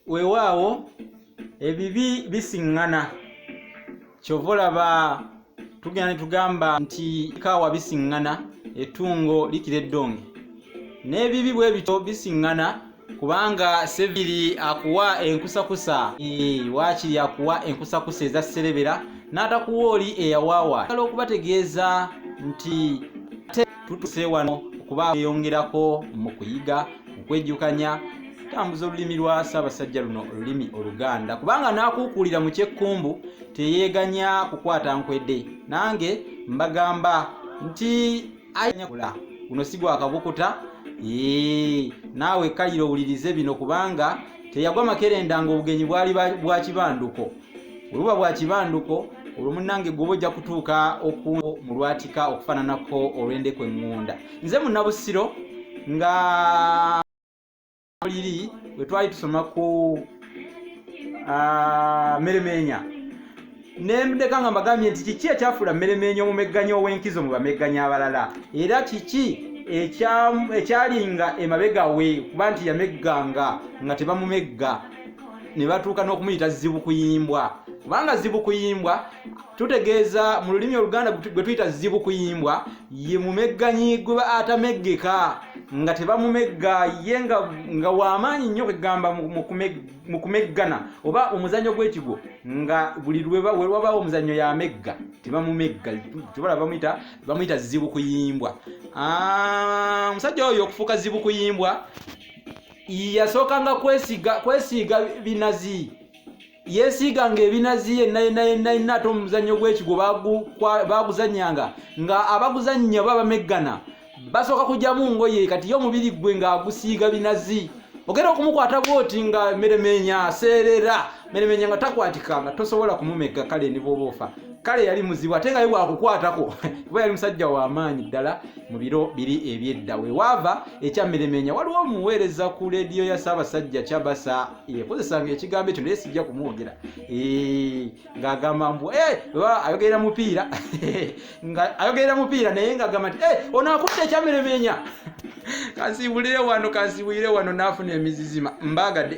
weewaawo ebibi bisiŋŋana kyova olaba tugenda ne tugamba nti kaawa bisiŋŋana etungo likira eddonge n'ebibi bwe bityo bisiŋŋana kubanga seviri akuwa enkusakusa waakiri akuwa enkusakusa eza serebera n'atakuwa oli eyawaawa ala okubategeeza nti tutuse wano okuba eyongerako mu kuyiga okwejjukanya tambuza olulimi lwa ssaabasajja luno olulimi oluganda kubanga n'akuukuulira mu kyekkumbu teyeeganya kukwata nkwedde nange mbagamba nti ayanyakula guno si gwakabukuta ee naawe kalira owulirize bino kubanga teyagwa makerenda ng'obugenyi bwali bwa kibanduko webuba bwa kibanduko olwo munange gwoba ojja kutuuka oku mu lwatika okufaananako olw'endeku eŋŋunda nze munabusiro nga liri we twali tusoma ku ah, meremeenya nemudeka nga mbagambye nti kiki ekyafuula mmeremeenya omumegganya ow'enkizo mu bamegganya abalala era kiki ekyalinga emabega we kuba nti yamegganga nga tebamumegga ne batuuka n'okumuyita zibukuyimbwa kubanga zibukuyimbwa tutegeeza mu lulimi oluganda gwe tuyita zibukuyimbwa ye mumegganyi gwe ba atameggeka nga tebamumegga ye nga wamaanyi nnyo kwegamba mu kumeggana oba omuzannyo gw'ekigo nga buli lwewabaawo omuzannyo yamegga tebamumegga tubala bamuyita bamuyita zibukuyimbwa ah, omusajja oyo okufuuka zibukuyimbwa yasookanga kwesiiga binazi yesiiganga ebinazi yenna yenna yenna yenna ate omuzannyo gw'ekigo baaguzanyanga nga abaguzannya oba bameggana basooka kugyamu ngoye kati ye omubiri gwe ng'agusiiga binazi ogenda okumukwata bwoti nga meremeenya aseerera menemenya nga takwatika nga tosobola kumumegga kale ne bwoba ofa kale yali muzibu ate nga ye bwakukwatako kuba yali musajja wamaanyi ddala mu biro biri ebyedda wewaava ekyammeremenya waliwo omuweereza ku leediyo ya ssaabasajja kyabasa ekozesanga ekigambo ekyo naye sijja kumwogera ng'agamba mbu eh, ayogerera mupiira nga ayogerera mupiira naye ng'agamba nti eh, ono akutte ekyammeremenya kansiibulire wano kansiibulire wano naafuna emizizima mbaagade